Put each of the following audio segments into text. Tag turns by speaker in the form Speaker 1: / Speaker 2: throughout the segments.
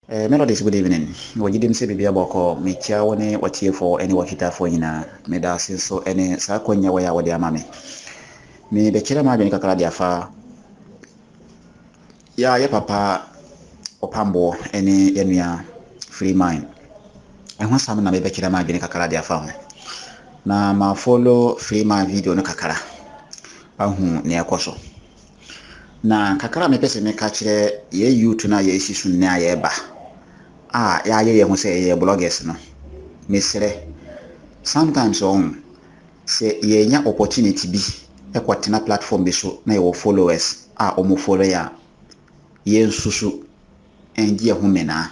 Speaker 1: Eh, Melodies, good
Speaker 2: evening. Wɔgye dim sɛ biribi abɔ kɔ. Mekyia wo ne w'atiefoɔ ne w'ahwitafoɔ nyinaa. Meda ase nso ne saa akwanya wei a wode ama me. Mebɛkyerɛ m'adwene kakra de afa Yɛa yɛ papa ɔpamboɔ ɛne yɛ nua freeman ɛho asɛm na mebɛkyerɛ ma adwene kakra de afa ho na ma follow freeman video no kakra ahu nea ɛkɔ so na kakra mepɛ sɛ meka kyerɛ yɛ youth no a yɛsi so nnɛ a yɛba a yɛayɛ yɛ ho sɛ yɛyɛ bloggers no mesrɛ sometimes ɔn Sɛ yɛnya opportunity bi kɔ tena platform bi so na yɛwɔ followers a ɔmo follow yɛ a, yɛnsusu ngye yɛn ho menaa.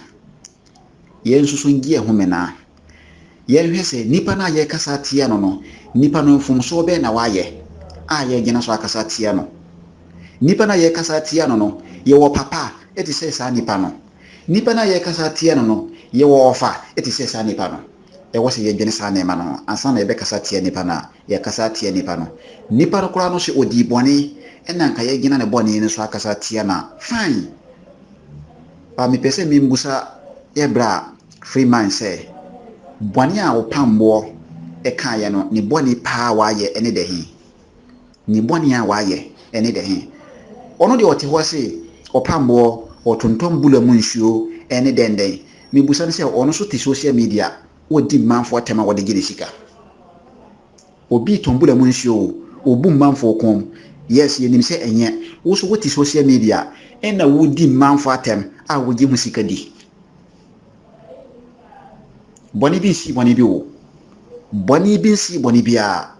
Speaker 2: Yɛnsusu ngye yɛn ho menaa. Yɛnhwɛ sɛ nipa no a yɛkasa atia no no, nipa no mfomsoɔ bɛn na wayɛ a yɛgyina so akasa atia no? Nipa no a yɛkasa atia no no, yɛwɔ papa te sɛ saa nipa no? Nipa no a yɛkasa atia no no, yɛwɔ ɔfa te sɛ saa nipa no? Ɛwɔ sɛ yɛdwene saa nneɛma no ho ansa na yɛbɛkasa atia nipa no a yɛrekasa atia nipa no. Nipa no koraa no sɛ ɔdii bɔne na anka yɛagyina ne bɔne no so akasa atia no a, fine. But mepɛ sɛ membisa yɛ bra Freeman sɛ, bɔne a wo pamboɔ kaeɛ no, ne bɔne paa a wayɛ ne dɛ he? Ne bɔne a wayɛ ne dɛ he? Ɔno deɛ ɔte hɔ se ɔpamboɔ, ɔtontɔn bula mu nsuo ne dɛndɛn. Mebusa no sɛ ɔno nso te social media ɔdi mmanfoɔ atɛm a ɔde gye ne sika? Obi tɔn bula mu nsuo o, ɔbu mmanfoɔ kɔn mu, yes yɛnim sɛ ɛnyɛ. Wo nso wote social media na wodi mmanfoɔ atɛm a wogye ho sika di. Bɔne bi nsii bɔne bi o. Bɔne bi nsii bɔne biara.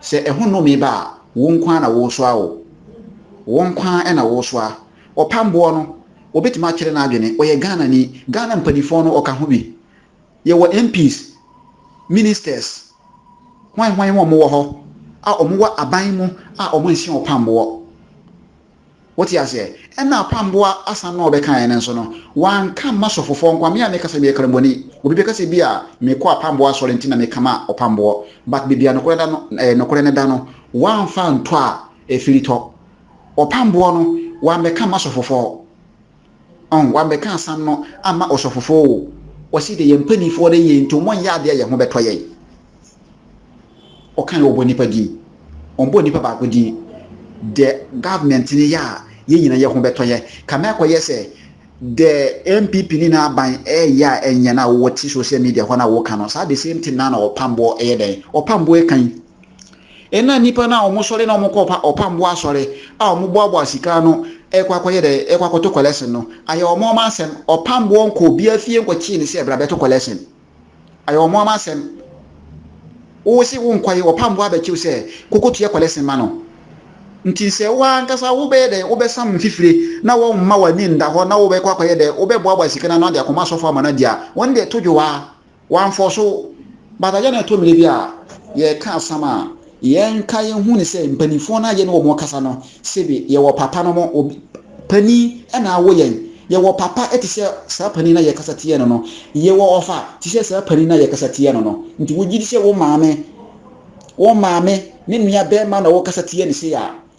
Speaker 2: Sɛ ɛho nnome ba a, wo nko ara na woresoa o. Wo nko ara na woresoa. Ɔpam boɔ no, wɔbɛtumi akyerɛ no adwene, ɔyɛ Ghanani. Ghana mpaninfoɔ no, ɔka ho bi. Yɛwɔ MPs, Ministers, hwan hwan wɔn wɔ hɔ a wɔn wɔ aban mu a wɔn nhyɛ ɔpam boɔ. Wote aseɛ? Ɛna Apamboa asan na ɔbɛkaeɛ no nso no, wanka mma sɔfofoɔ nkoa. Me a meka sɛ meyɛ karambɔni, obi bɛka sɛ ebia mekɔ Apamboa asɔre nti na meka ma Ɔpamboɔ, but baabi a nokorɛ da no, ɛɛ, nokorɛ no da no, wamfa antɔ a, ɛfiritɔ. Ɔpamboɔ no, wambɛka mma sɔfofoɔ. Ɔn w'abɛka asam no ama ɔsɔfofo o, ɔse de yɛn mpaninfoɔ de yɛn nti ɔmɔ nyɛ adeɛ a yɛn ho bɛtɔ yɛn. Ɔka yɛ ɔbɔ nipa din, ɔnbɔ nipa baako din, dɛ government no yɛ a yɛn nyina yɛ ho bɛtɔ yɛn. Kame akɔ yɛ sɛ dɛ NPP ne n'aban ɛɛyɛ a ɛnyɛ no a wowɔ te social media hɔ no a woka no saa the same thing no a na ɔpamboɔ ɛyɛ dɛn ɔpamboɔ ɛka yi. Nna nyimpa no a wɔsɔre na wɔkɔ ɔpambo asɔre a wɔboaboa sika ano rekɔ akɔyɛ dɛ rekɔ akɔto kɔlɛsen no, ayɛ hɔn hɔn asɛm. Ɔpamboɔ nnkɔ obiara fie nnkɔkyee no sɛ bra bɛto kɔlɛsen. Ayɛ hɔn hɔn asɛm. Wo se wonnkɔ yi, ɔpamboɔ abɛkye wo sɛ kɔkɔtua kɔlɛsen ma no. Ntsi sɛ wo ankasa wobɛyɛ dɛ wobɛsam mfifire na wɔremma w'ani nnda hɔ na wobɛkɔ akɔyɛ dɛ wobɛboaboa sika no ano de akɔma asɔfo ama no adzi a, hɔn deɛ to dwow ara. Wɔamfɔ so. But ayɛ na ɛtɔ mmerɛ bi a yɛreka asɛm a, yɛnka yɛhu no sɛ mpanimfoɔ no a yɛne wɔn kasa no, sɛbi yɛwɔ papa nom, obi, panin na awo yɛn. Yɛwɔ papa te sɛ saa panin no a yɛkasa tia no no. Yɛwɔ ɔfa te sɛ saa panin no a yɛkasa tia no no. Nti wogye di sɛ wo maame, wo maame ne nua barima na wokasa tia no sei a,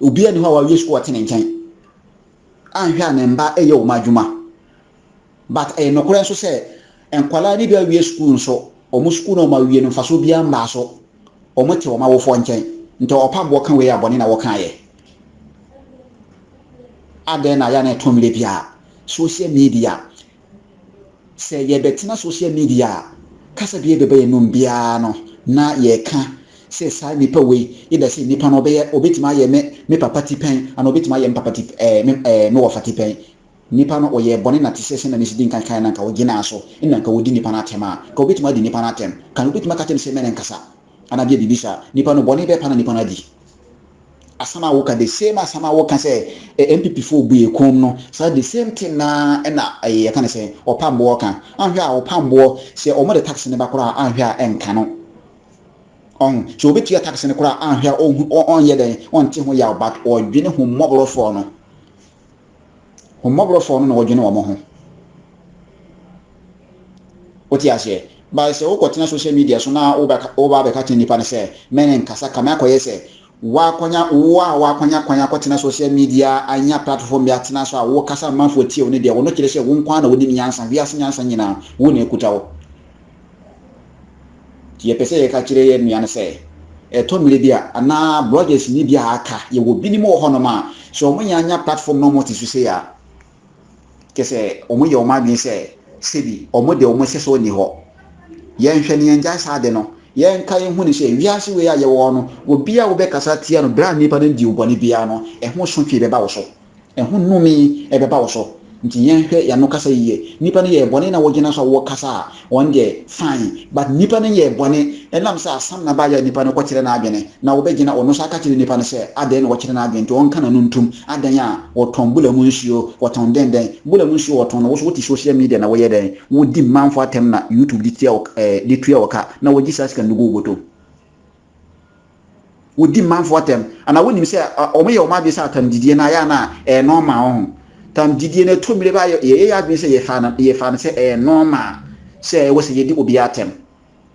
Speaker 2: Obiara nni hɔ a wawie sukuu a ɔte ne nkyɛn anhwɛ a ne mma reyɛ wɔn adwuma. But ɛyɛ nokorɛ nso sɛ nkwadaa no bi awie sukuu nso wɔn sukuu no a wɔawie no mfasoɔ biara mmaa so. Wɔte wɔn awofoɔ nkyɛn. Nti ɔpa boɔ ka wei a bɔne na wɔkaeɛ. Adɛn na yɛ a na ɛtɔ mmerɛ biara social media Sɛ yɛrebɛtena social media a, kasa biara bɛba yɛn anom biara no na yɛreka sɛ saa nipa wei, either sɛ nipa no ɔbɛyɛ, ɔbɛtumi ayɛ me me papa tipɛn anaa ɔbɛtumi ayɛ me papa tip ɛɛ me ɛɛ me wɔfa tipɛn. Nipa no ɔyɛɛ bɔne na te sɛ sɛnea mesi di nkan kaeɛ no anka ɔgyinaa so na anka ɔredi nipa no atɛm a, anka ɔbɛtumi adi nipa no atɛm. Anka ɔbɛtumi aka akyerɛ no sɛ me ne nkasa. Ana bia biribi saa? Nipa no bɔne bɛpa na nipa no adi. Asɛm a woka the same asɛm a woka sɛ NPP foɔ bue koom no saa the same thing naa ɛna ɛyɛ yɛka no sɛn ɔpamboɔ ka. Anhwɛ a ɔpamboɔ sɛ wɔn de tax no ba koraa a anhwɛ a ɛnka no. Ɔho sɛ ɔbɛtua tax no koraa a anhwɛ a ɔnhu ɔnyɛ dɛn ɔnte ho yaw but ɔdwene ho mmɔborɔfoɔ no. Wɔn mmɔborɔfoɔ no na wɔdwene wɔn ho. Wote aseɛ? Bae sɛ wokɔtena social media so na woba abɛka kyerɛ nnipa no sɛ, me ne nkasa, kame akɔyɛ sɛ woakwanya, wo a woakwanya kwan akɔtena social media, anya platform bi atena so a wokasa amanfoɔ tie wo no deɛ, wo no kyerɛ sɛ wo nko ara na wonim nyansa, wiase nyansa nyinaa, wo na ɛkuta wo. Nti yɛpɛ sɛ yɛka kyerɛ yɛn nua no sɛ, ɛtɔ mmere bi a, anaa bloggers ni bi a aka, yɛwɔ binom wɔ hɔnom a, sɛ wɔn yɛ anya platform na wɔn te so sei a, kyɛ sɛ wɔn yɛ wɔn adwene sɛ, sɛbi wɔn de wɔn hyɛ so nni hɔ. Yɛnhwɛ na yɛngyae saa ade no. Yɛnka yɛnhu no sɛ, wiase wei a yɛwɔ no, obi a wobɛkasa atia no berɛ a nnipa no di wo bɔne biara no, ɛho sotwee bɛba wo so. Ɛho nnome bɛba wo so. Nti yɛnhwɛ yɛn ano kasa yiye. Nnipa no yɛɛ bɔne na wɔgyina so a wɔkasa a, wɔn deɛ fine. But nnipa no yɛɛ bɔne ɛnam sɛ asɛm na ɛbaeɛ a nnipa no kɔkyerɛ n'adwene. Na wɔbɛgyina ɔno nso aka akyerɛ nnipa no sɛ adɛn na wɔkyerɛ n'adwene nti ɔnka n'ano ntom. Adɛn a wɔtɔn bula mu nsuo, wɔtɔn dɛn dɛn. Bula mu nsuo a wɔtɔn no, wo so wote social media na woyɛ dɛn? Wodi manfo atɛm na YouTube de tua wo ka na wɔgye saa sika no de gu wo bɔtɔ mu. wɔdi mmanfoɔ atɛm anaa wonim sɛ wɔyɛ wɔn adwene sɛ atamgyidie no ayɛ a na ɛyɛ nɔɔma wɔn ho tamgyidie no ɛtɔ mmire baa yɛyɛ yɛ adwene sɛ yɛfa no yɛfa no sɛ ɛyɛ nɔɔma sɛ ɛwɔ sɛ yɛdi obiara atɛm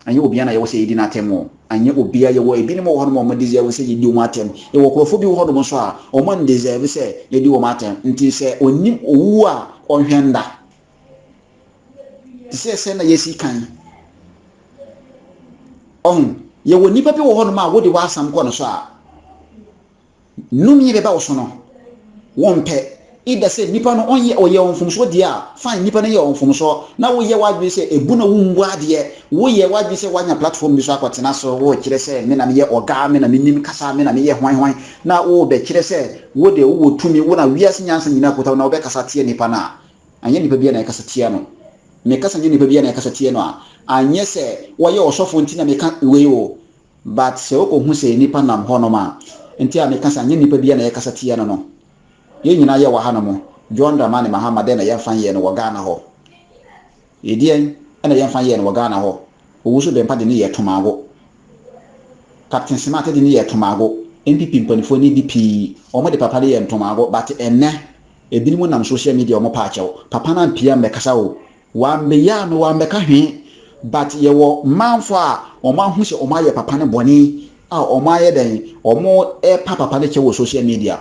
Speaker 2: anyɛ obiara na yɛwɔ sɛ yɛdi n'atɛm o anyɛ obiara yɛwɔ ebinom wɔ hɔnom a wɔn deserve sɛ yɛdi wɔn atɛm yɛwɔ nkurɔfoɔ bi wɔ hɔnom nso a wɔn deserve sɛ yɛdi wɔn atɛm nti sɛ onim owuo a ɔnhwɛ nda te sɛ sɛ na yɛsi kan ɔho yɛwɔ nnipa bi wɔ hɔnom a wode w'asɛm kɔ no so a nnome bɛba wo so no wɔmpɛ ida sɛ nnipa no ɔnyɛ ɔyɛ wɔn mfomsoɔ deɛ a fine nnipa no yɛ wɔn mfomsoɔ na woyɛ w'adwene sɛ ebu na wombu adeɛ woyɛ w'adwene sɛ woanya platform bi so akɔtena so wokyerɛ sɛ me na meyɛ ɔgaa me na menim kasa me na meyɛ hwan hwan na wobɛkyerɛ sɛ wode wowɔ tumi wo na wiase nyansa nyinaa kota na wobɛkasa teɛ nnipa no a Anyɛ nnipa biara na ɛkasa tia no. Meka sɛ anyɛ nnipa biara na ɛkasa tia no a, anyɛ sɛ wɔyɛ ɔsɔfo nti na meka wei o, but sɛ wokɔhu sɛ nnipa nam hɔnom a, nti a meka sɛ anyɛ nnipa biara na ɛkasa tia no no. Yɛn nyinaa yɛwɔ hanom, John Dramani Mahama dɛn na yɛmfa nyɛ no wɔ Ghana hɔ? Ɛdeɛn na yɛmfa nyɛɛ no wɔ Ghana hɔ? Owusu Bempah de no yɛɛ Tomago. Captain Simate de no yɛɛ Tomago. NPP mpaninfoɔ ne bi pii, wɔde papa no yɛɛ Ntomago but ɛnnɛ, ɛbinom nam social media a wɔpɛ akyɛw. Papa no ampia ammɛkasa o, wambɛyia no, wambɛka hwee but yɛwɔ manfoɔ a wɔn ahu sɛ wɔn ayɛ papa no bɔne a wɔn ayɛ dɛn, wɔn ɛpa papa no kyɛw wɔ social media.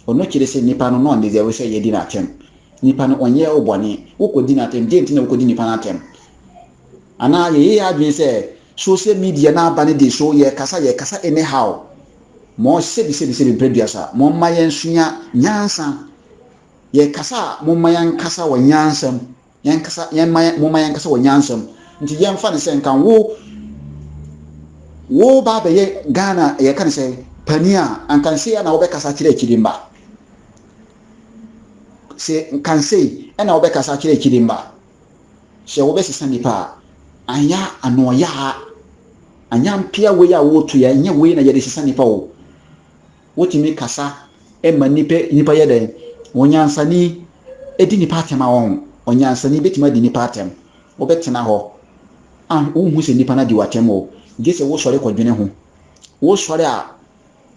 Speaker 2: Ɔno kyere sɛ nipa no na ɔndeserve sɛ yɛdi no atɛm. Nipa no, ɔnyɛɛ wo bɔne. Wokɔdi no atɛm. Deɛ nti na wokɔdi nipa no atɛm? Anaa yɛyɛ yɛn adwene sɛ, social media no aba no de so yɛkasa, yɛkasa anyhow. Mo, sɛbi, sɛbi, sɛbi, brɛ dua sa. Momma yɛnsua nyansa. Yɛkasa a, momma yɛnkasa wɔ nyansa mu. Yɛnkasa, yɛmma yɛn, momma yɛnkasa wɔ nyansa mu. Nti yɛmfa no sɛ nka wo, woreba abɛyɛ Ghana, yɛka no sɛ, panin a, anka sei ara na wobɛkasa akyerɛ Akyidimma? sɛ nkansei na wobɛkasa akyerɛ akyiri mma, sɛ wobɛsesa nnipa a, anyɛ anoɔyaa, anyɛ ampea wei a woretu yɛ, nyɛ wei na yɛde sesa nnipa o. Wotumi kasa ma nnipa nnipa yɛ dɛn? Onyansani di nnipa atɛm a wɔn onyansani bɛtumi adi nnipa atɛm. Wobɛtena hɔ a wonhu sɛ nnipa no adi w'atɛm o, gye sɛ wosɔre kɔdwene ho. Wosɔre a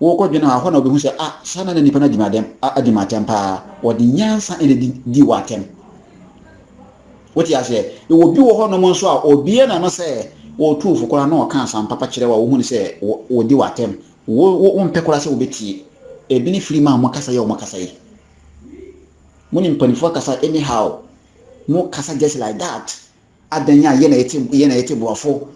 Speaker 2: Wokɔdwene ho a, ɛhɔ na wobɛhu sɛ, ah, saa na na nnipa no adi me adɛm, adi me atɛm paa. Wɔde nyansa na ɛdi di wɔ atɛm. Wote aseɛ? Ɛwɔ bi wɔ hɔ nom nso a, obiara na no sɛ ɔtu fo koraa na ɔka asɛm papa kyerɛ wo a, wohunu sɛ wɔdi wɔ atɛm. Wo, wo, wompɛ koraa sɛ wobɛtie. Ebi ne firi mu a wɔkasa yɛ wɔn kasa yi. Mo ne mpanimfoɔ akasa anyhow. Mo kasa just like that. adɛn a yɛn na yɛte yɛn na yɛte boafo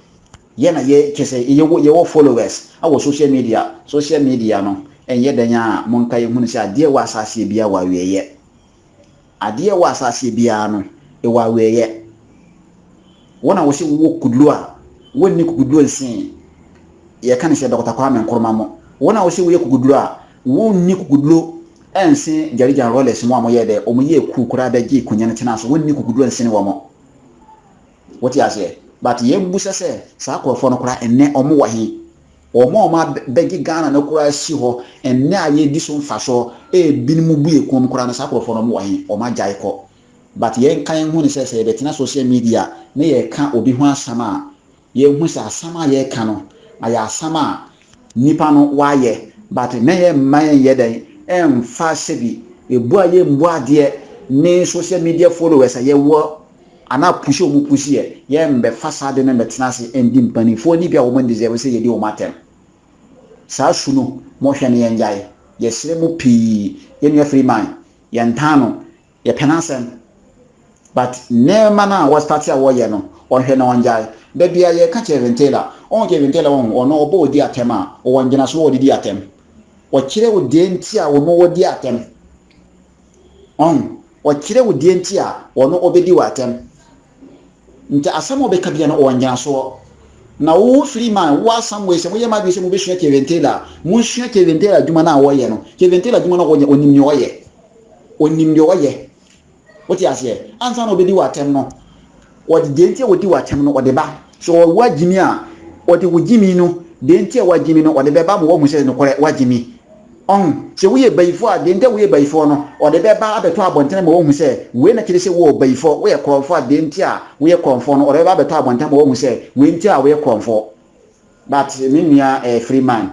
Speaker 2: yɛn na yɛ kyɛ sɛ yɛwɔ yɛwɔ followers wɔ social media social media no ɛnyɛ dɛn a monka yɛn hunu sɛ adeɛ wɔ asase biara wɔ awieɛ adeɛ wɔ asase biara no ɛwɔ awieɛ wɔn a wɔsɛ wowɔ kuduro a wɔnni kukuduro nsee yɛka ne sɛ Dɔkta Kwame Nkrumah mo wɔn a wɔsɛ woyɛ kukuduro a Wo nni kukuduro nse gyarigyan rollers mo a mo yɛ dɛ ɔmo yɛ cool koraa bɛ gye konya no tena so wo nni kukuduro nsene wɔmo wo te aseɛ but yɛ bu sɛ sɛ saa korɔfoɔ no koraa ɛnɛ ɔmo wɔ he ɔmo a ɔmo a bɛ gye Ghana no koraa asi hɔ ɛnɛ a yɛ di so mfasoɔ ɛbi mo bu yɛ kɔn mu koraa no saa korɔfoɔ no ɔmo wɔ he ɔmo agyae kɔ but yɛ nka yɛ ho ne sɛ sɛ yɛ bɛ tena social media ne yɛ ka obi ho asɛm a Yɛhu sɛ asɛm a yɛreka no ayɛ asɛm a nnipa no w'ayɛ but na yɛ mma yɛn yɛ dɛn ɛnfa sɛbi ɛbu a yɛ mbu adeɛ ne social media followers a yɛ wɔ anaa push a wɔn push yɛ yɛ mbɛ fa saa ade no mbɛ tena ase ndi mpaninfoɔ ni bi a wɔn ndeserve sɛ yɛ di wɔn atɛm saa su no mo hwɛ no yɛ ngyae yɛ srɛ mo pii yɛ nua Freeman yɛ ntaa no Yɛpɛ n'asɛm but nneɛma no a wɔ start a wɔyɛ no ɔnhwɛ na ɔngyae. Da biara yɛka Kevin Taylor, wohu Kevin Taylor wohu ɔno ɔbɔ wo di atɛm a ɔwɔ ngyinaso a ɔde di atɛm. Ɔkyerɛ wo deɛ nti a ɔno ɔdi atɛm. Wahu? Ɔkyerɛ wo deɛ nti a ɔno ɔbɛdi wo atɛm. Nti asɛm a ɔbɛka biara no ɔwɔ ngyinasoɔ. Na wo firi ma wo asamoei sɛ moyɛ mo adwene sɛ mobɛsua Kevin Taylor a, monsua Kevin Taylor adwuma no a ɔyɛ no. Kevin Taylor adwuma no a ɔyɛ, ɔnim deɛ ɔyɛ. Ɔnim deɛ ɔyɛ. Wote aseɛ? Ansa na ɔbɛdi wo atɛm no, ɔde deɛ nti a ɔdi wo atɛm no, ɔde ba. Sɛ ɔwɔ agyimi a, ɔde wo gyimi no, deɛ nti a woagye mi no, ɔde bɛba ma woahu sɛ nokorɛ woagye mi. Ɔho, sɛ woyɛ bayifoɔ a, deɛ nti a woyɛ bayifoɔ no, wɔde bɛba abɛtɔ abɔntene ma wɔahu sɛ, wei na kyerɛ sɛ woɔ bayifoɔ, woyɛ korɔmfoɔ a, deɛ nti a woyɛ korɔmfoɔ no, wɔde bɛba abɛtɔ abɔntene ma wɔahu sɛ, wei nti a woyɛ korɔmfoɔ. But me nua eh, Freeman,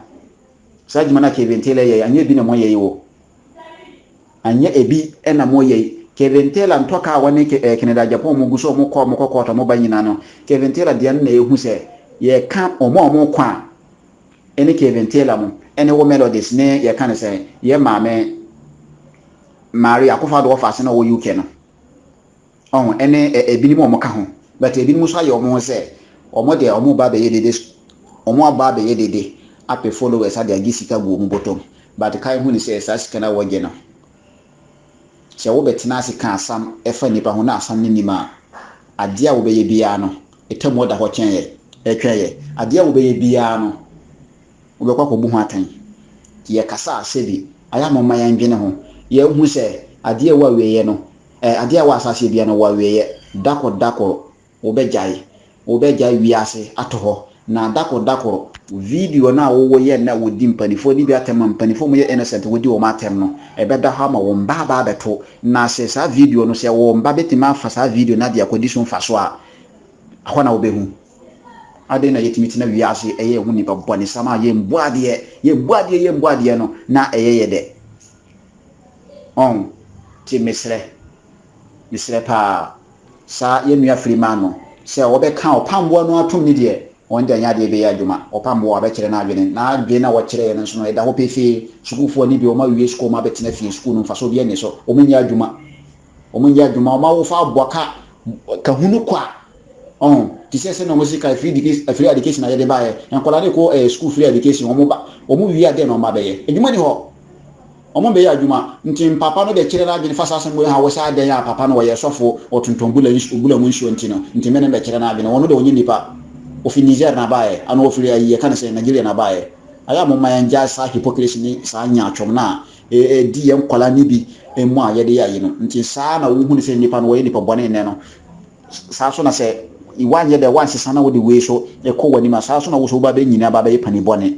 Speaker 2: saa adwuma no a Kevin Taylor yɛe, anyɛ ebi na moyɛ yi o. Anyɛ ebi na moyɛ yi. Kevin Taylor ntɔ kaa a wɔne Ke eh, Kennedy Agyapong a wɔgu so, wɔkɔ, wɔkɔ court, wɔba nyinaa no, Kevin Taylor deɛ no na ɛhu sɛ, yɛka wɔn a wɔkɔ a, ne Kevin Taylor mu ne wo Melodies ne yɛka no sɛ yɛ maame Maria Akufo-Addo wɔfa ase na ɔwɔ UK no ɔho ne ebinom a wɔka ho but ebinom nso ayɛ wɔn ho sɛ wɔn deɛ wɔn ba bɛyɛ dede wɔn aba abɛyɛ dede apɛ followers ade agye sika gu wɔn bɔtɔm but kae hu ne sɛ saa sika no a wɔgye no Sɛ wobɛtena ase ka asɛm fa nnipa ho na asɛm no nni mu a, adeɛ a wobɛyɛ biara no, atemmuo da hɔ kyɛn yɛ, retwɛn yɛ. Adeɛ a wobɛyɛ biara no, wobɛkɔ akɔbu ho atɛn. Yɛkasa a, sɛbi, ayɛ a momma yɛndwene ho. Yɛnhu sɛ, adeɛ a ɛwɔ awieeɛ no, ɛ, adeɛ a ɛwɔ asaseɛ biara no, ɛwɔ awieeɛ. Da kɔ, da kɔ, wobɛgyae, wobɛgyae wiase ato hɔ, na dakoro dakoro video no a wowɔ yɛ na wodi mpaninfoɔ no bi atɛm a mpaninfoɔ mu yɛ innocent wodi wɔn atɛm no ɛbɛda hɔ ama wo mba aba abɛto na sɛ saa video no sɛ wo mba bɛtumi afa saa video no ade akɔdi so mfaso a hɔ na wobɛhu adɛn na yɛtumi tena wiase ɛyɛ ɛho nipa bɔnesam a yɛmbu adeɛ yɛmbu adeɛ yɛmbu adeɛ no na ɛyɛ yɛ dɛ ɔn ti mesrɛ Mesrɛ paa saa yɛn nua Freeman no sɛ wɔbɛka ɔpamboa no atom ne deɛ wɔn de anyɛ adeɛ bɛyɛ adwuma. Ɔpamboa wabɛkyerɛ n'adwene, na adwene no a wakyerɛɛ no nso no ɛda hɔ pefee. Sukuufoɔ ani bere wɔn awie sukuu wɔn abɛtena fie, sukuu no mfasoɔ biara nni so, wɔn nyɛ adwuma, wɔn nyɛ adwuma, wɔn awofoɔ aboa ka ka hunu kwa, ɔho, te sɛ sɛdeɛ wɔn sika free education free education a yɛde baeɛ, nkwadaa no rekɔ ɛɛ sukuu free education wɔn ba, wɔn wie a dɛn na wɔn abɛyɛ? Adwuma nni hɔ, Wɔbɛyɛ adwuma, nti Mpaapa no bɛkyerɛ n'adwene fa saa asɛm wei ho a wɔ sɛ adɛn a Papa no ɔyɛ sɔfo wɔ Tonton Bula nsu Bula mu nsuo nti no, nti me ne no bɛkyerɛ n'adwene, wɔno deɛ ɔnyɛ nipa, ɔfiri Niger na baeɛ, anaa ɔfiri ayi yɛka no sɛn, Nigeria na baeɛ. Ayɛ a momma yɛngyae saa hypocrisy ne saa nyaatwom no a ɛdi yɛn nkwadaa no bi mu a yɛde yɛ ayi no, nti saa na wohu no sɛ nipa no ɔyɛ nipa bɔne nnɛ no, saa nso na sɛ woanyɛ dɛ woansesa na wode wei nso kɔ w'anim a saa nso na wo nso wobɛba abɛnyini aba abɛyɛ panin bɔne.